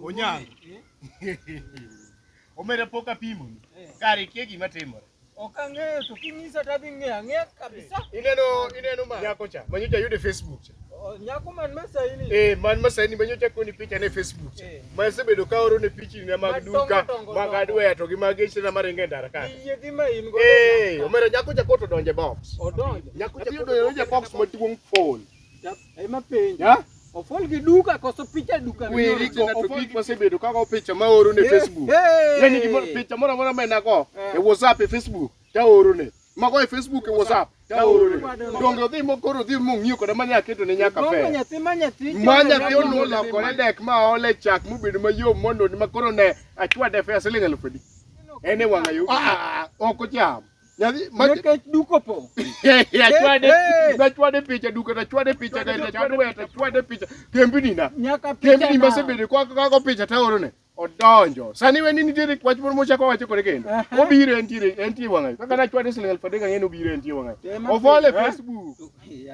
Onyango. Omera pok apimo. Kare kia gima timore. Ok ang'eyo to kinyisa to adhi ng'eyo ang'eya kabisa. Ineno ineno ma nyako cha. Manyo cha yude Facebook cha. Nyako man masaini. Eh, man masaini manyo cha koni picha ne Facebook cha. Eh. Ma sebedo ka oro ne pichi na mag duka, mag adware to gi mag eche na maringe ndara ka. Iye gi ma in go. Eh, omera nyako cha koto donje box. Odonje. Nyako cha koto donje box maduong' phone. Ema penjo. Ya? Ofol gi duka koso picha duka. Weri go ofol gi wasebedo ka go picha ma oro ne eh, Facebook. Eh. Yani gi picha moro moro mena go eh. e WhatsApp e Facebook ta oro ne. Mago e Facebook e WhatsApp ta oro ne. Donge odhi mo koro odhi mo ng'iyo koda manya keto ne nyaka fe. Manya ti manya ti. Manya ti ono la kore dek ma ole chak mubedo mayom mondo ma koro ne achwa de fe siling elfu di. Ene wang'ayo. Ah, ah, ah, ok ocham. Nikech duk opong'. Nachwade picha duka, nachwade picha gari, nachwade waya, nachwade picha kembni na. Nyaka picha na. Kembni masebedo kwa kako picha taoro ne. Odonjo. Sani weni nitiere wach moro mochako wacho kore kendo. Obiro entiere entiere wang'ayo. Kaka nachwade siling aluf adek ang'e ni obiro entiere wang'ayo. Ofole Facebook.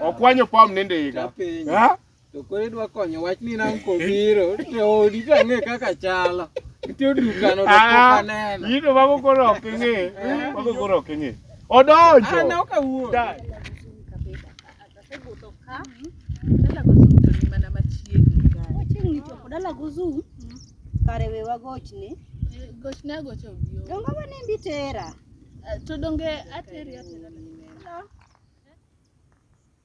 Okwanyo pam nende higa. Ha? To koro idwa konyo wach ni nang' kobiro to odi to ang'e kaka chalo. Nitie dukano to pok Ah, aneno. yino mago koro ok ing'e. Mago koro ok ing'e. Odonjo. Aneno ka wuok. Da- Chiegni chopo dala gozum kare we wagochne Gochne agocha obi o. dongo ma nimbi tera To donge ateri atera.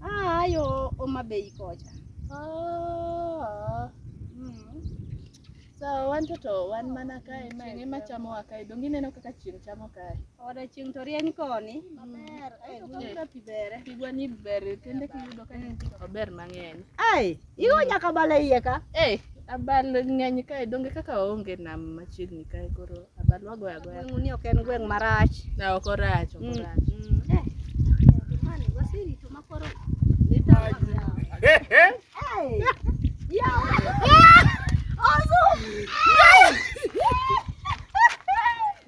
Ah, yo Homa Bay kocha. Ah. Mm. So wan to to wan mana kae ma ene ma chamo wa kae. Donge ineno kaka chieng' chamo kae. Oda chieng' to rieny koni. Maber. Aito ka pi bere. Pigwa ni ber kende kiyudo ka en ober mang'eny. Ai. Igo mm. nyaka bala iye ka. Eh, abal ng'eny kae donge kaka waonge nam machiegni kae koro abal wagoya agoya. Gweng' ni ok en gweng' marach. Na ok orach, ok mm, orach. Mm. Eh. Mani wasiri to makoro. Eh, eh. Ya. Ozu.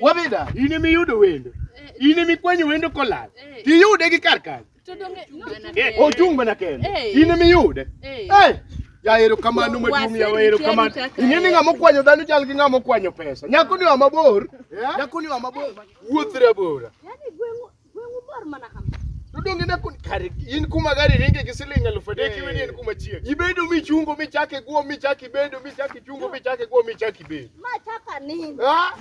Wabida, in emi yudo wendo. Eh. In emi kwenyo wendo kolal. Eh. Tiyude gi kar kanyo. Eh, ochung' mana kende. In emi yude. Eh. Ya ero kamano maduong' ya ero kamano. Ing'e ni ng'ama okwanyo dhano chal gi ng'ama okwanyo pesa. Nyako ni wa mabor. Nyako ni wa mabor. Wuoth rabora. Dudong ina kun kare in kuma gari ringe gi siling alufu adek iweni en kuma chiek. Ibedo michungo michake guo michaki bedo michaki chungo michake guo michaki bedo. Machaka nini? Ah,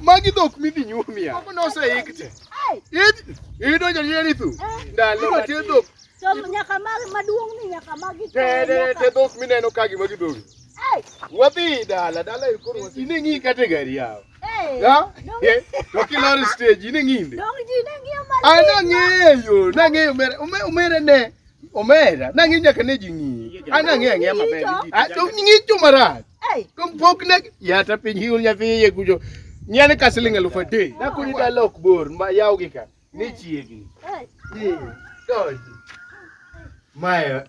Magi dhok midhi nyuomia. Moko noseik te. Ai, Id- Idonjo ni eri thu. Eh. Ndalo ma te dhok. to nyaka mag maduong' ni nyaka magi Te te te dhok mineno ka gima gidhogi. Ai, Wadhi dala dala ikoro wasi. Ine ng'i kate gari yawo. Dokilor stage ni ng'inde. Anang'eyo, nang'eyo omere ne omera nang'e nyaka ne ji ng'iyi an ang'e ang'eya maber ah, to ng'icho marach kompok ne yata piny hiul nyathi iye kucho nyane ka siling' alufu adek nakuni dala ok bor ma yaw gi ka ni chiegni donji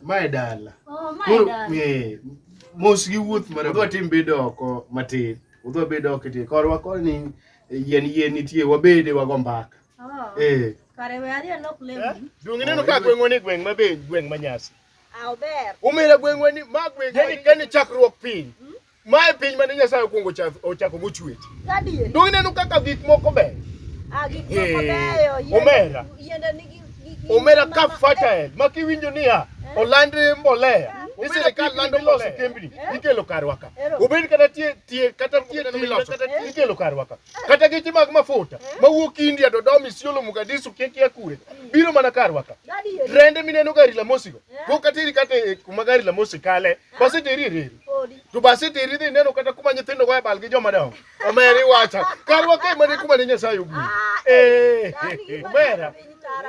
mae dala oh, eh, mos gi wuoth mara udwa tim bedo oko matin udwa bedo oko tie korwa kor ni eh, yien yien nitie wabede wago mbaka oh. eh. duong' ineno ka gweng'wa ni gweng' mabe gweng' manyasi ah, umira gweng'wa ni ma gweng' yani chakruok piny hmm? Mae piny mane Nyasaye okwongo ochako go chwe. Gadier. Dong ineno kaka gik moko ber. Ah, gik moko beyo. Omera. Yiende nigi omera ka fertile ma kiwinjo niya eh? oland mbolea hmm? ni sirikal lando loso kembni eh? ikelo karwa ka obed kata tie tie kata tie miloso eh? ikelo karwa ka kata geche mag mafuta mawuok India Dodoma Isiolo Mogadishu Kiekia kure hmm. biro mana karwa ka trende mineno gari la mosigo go katiri kata kuma gari la mosi kale Baseteri e reru. To baseteri dhi neno kata kuma nyithindo goye bal gi joma dongo. Omeri wacha. Karwa kae mane kuma ne Nyasaye oguro. Ah, eh, omera.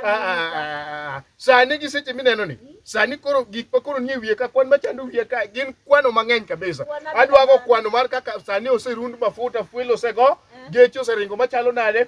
Ah, ah, sani gi seche mineno ni, sani koro gik ma koro nie wiye ka kwan machando wiye ka gin kwano mang'eny kabisa. Adwago kwano mar kaka sani oserund mafuta, fuel osego, eh. geche oseringo machalo nade,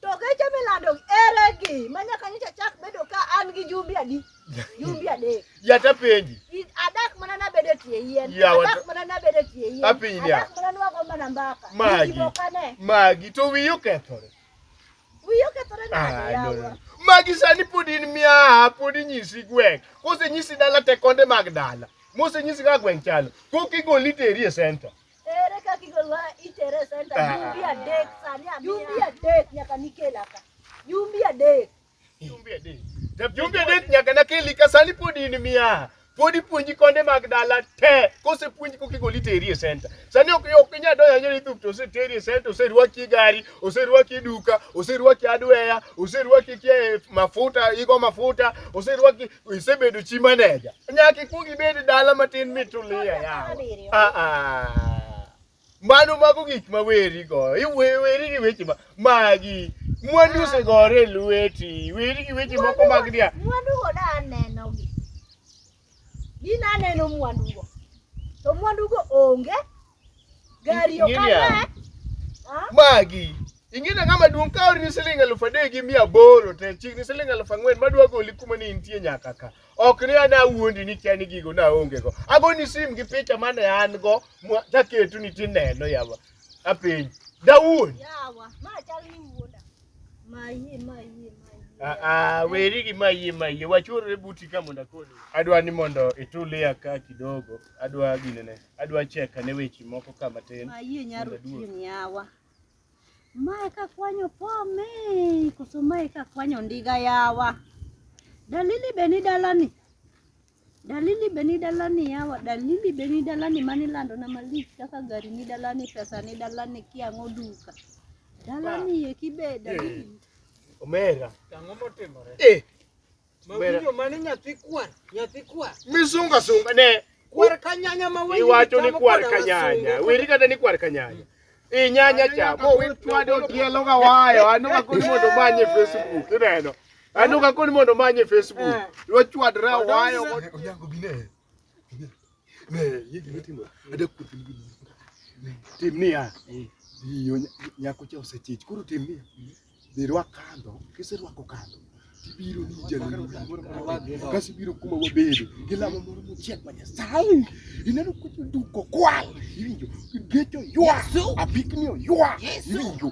To geche milando ere gi ma nyaka nyocha chak bedo ka an gi jumbe adi? Jumbe adek. Yata penji. Adak mana nabedo e tie yien. Adak mana nabedo e tie yien. Apiny ni. Adak mana nwago mana mbaka. Magi. Magi to wiyo kethore. Wiyo kethore na ah, yawa. Magi sani pod in mia pod inyisi gweng'. Kose nyisi dala te konde mag dala. Mose nyisi ka gweng' chalo. Koki goliteri e center. Ere kaka igolowa itere e center Ah. jumbi adek sani amiya. Jumbi adek nyaka nikela ka. Jumbi adek. Jumbe adek. Jumbe adek nyaka nakeli ka sani pod in miya. Pod ipuonji konde mag dala te. Kose puonji koki goli teri e center. Sani ok ok inya doya nyeri thup to ose teri e center, ose rwaki e gari, ose rwaki e duka, ose rwaki adweya, ose rwaki kia e mafuta, igo mafuta, ose rwaki isebedo chi maneja nyaka ikwong ibed dala matin mitulia yawa Ah, ah. mano mago gik ma weri go Iwe- weri gi weche ma magi mwandu osegore e lweti weri gi weche moko mag dia mwandugo da anenogi gin aneno mwandugo to mwandugo onge Gari okana. Magi. Ingine ng'ama duong' ka orini siling elfu adek gi mia aboro te chikni siling elfu ang'wen madwa goli kuma ni intie nyaka ka. Ok ni ana wuondi ni kia ni gigo naonge go. Agoni sim gi picha mane an go mwa- taketu ni tineno yawa. Apiny. Dawuon. Yawa, ma chal ni wuoda. Ma yie, ma yie, ma yie. Ah, ah, weri gi mayie mayie wachorre buti ka mondo akoni. Adwa ni mondo itulia ka kidogo. adwa ginene adwa check ane weche moko ka matin Ayie nyaro tieng' yawa. Mae ka kwanyo pome, koso mae ka kwanyo ndiga yawa. Dalili be ni dalani. Dalili be ni dalani yawa, dalili be ni dalani mani lando na malich kaka gari ni dalani, pesa ni dalani, kiang'o duka. Dalani eki be dalili. omera Ang'o motimore? eh Mawinjo mane nyathi kwar, nyathi kwar. Misunga sunga ne. Kwar kanyanya ma wewe. Iwacho ni kwar kanyanya. Wiri kata ni kwar kanyanya. I nyanya cha. Mo wi twado tielo ga wayo. Anu ka kuni mondo manye Facebook. Ineno. Anu ka kuni mondo manye Facebook. Lo chwadra wayo. Onyango bine. Timnia iyo nyako cha osechich koro timnia dhi rwak kandho kiserwako kandho tibiro ni jalemo kasi biro kuma wabedo gi lamo moro mochiek ma nyasaye ineno kucho duko kwal iwinjo gecho ywa apikni oywa iwinjo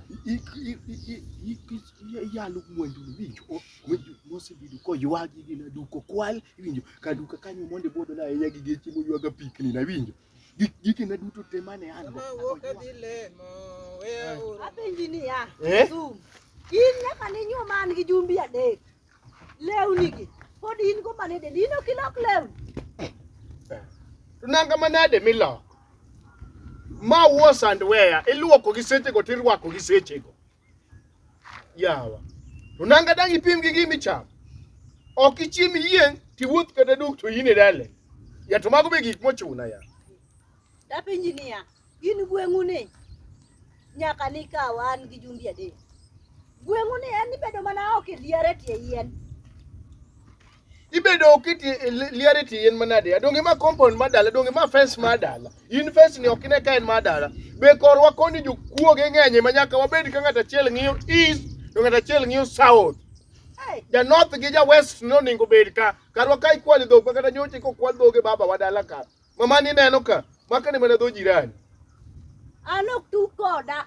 iyalo mwandu iwinjo winjo mosebedo koywagi gi na duko kwal iwinjo ka duka kanyo mondo ibodo na ahinya gi geche moywaga pikni na winjo giki na duto te mane an go apenji ni ya eh? zoom in nyaka ne nyuo man gi jumbi adek lewni gi pod in go mane de dino kilok lewni eh, eh. to nanga manade miloko ma wuo sandweya iluoko gi sechego tirwako gi sechego yawa to nanga dang' ipim gi gima ichamo ok ichiem yieng' tiwuoth kata duk to in e dale ya to mago be gik mochuna ya Dapenji niya, in gweng'u ni nyaka nikaw an gi jumbi adek. Gweng'u ni en ibedo mana oko e liare tie yien. ibedo kiti e liari ti in manade adonge ma compound ma dala donge ma fence ma dala in fence ni ok ine ka en ma dala be korwa koni jokuoge ng'enye ma nyaka wabed ka ng'at achiel ng'iyo east to ng'at achiel ng'iyo south ja north gi ja west no ningo bed ka karwa ka ikwali dhok ma kata nyoche ko kwal dhoge baba wa dala ka mama ni neno ka makane mana dho jirani an ok tu koda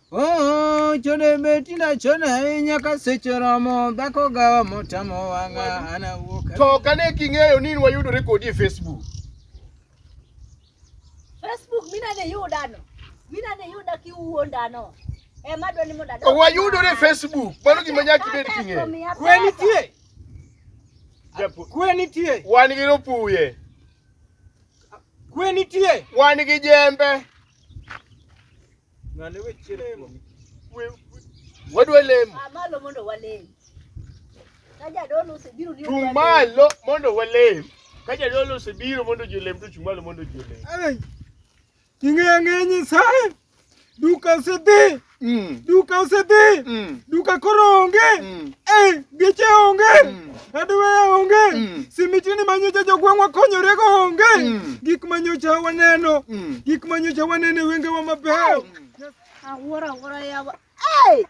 Oh, chode beti na chode ahinya ka seche romo dhako gawa motamo wang'a an awuok. To kane king'eyo ni wayudore kodi e Facebook. Facebook mina ne yudano. Mina ne yuda kiwuondano. Eh madwa ni moda. Wayudore Facebook. Mano gima nyaki bed king'eyo. Kwe nitie. Kwe nitie. Wan gi ropuye. Kwe nitie. Wan gi jembe. Ng'ane we chier kuomi. Wadwa lemo. Ah, malo mondo walem. Ka jadolo osebiro ni Chung' malo mondo walem. Ka jadolo osebiro mondo ji olem to chung' malo mondo ji olem. Ai. Ing'eyo ang'eya Nyasaye. Duka osedhi. Mm. Duka osedhi. Mm. Duka koro onge. Mm. Eh, geche onge. Mm. Aduweya onge. Mm. Simitini ma nyocha jogweng'wa konyorego onge. Mm. Gik ma nyocha waneno. Mm. Gik ma nyocha waneno e wengewa mabeyo. Mm. Awuoro awuoro yawa. Hey!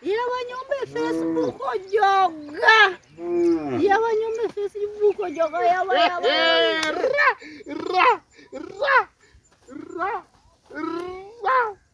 Yawa nyombe Facebook ojoga. Mm. Yawa nyombe Facebook ojoga yawa yawa. Ra ra ra ra ra.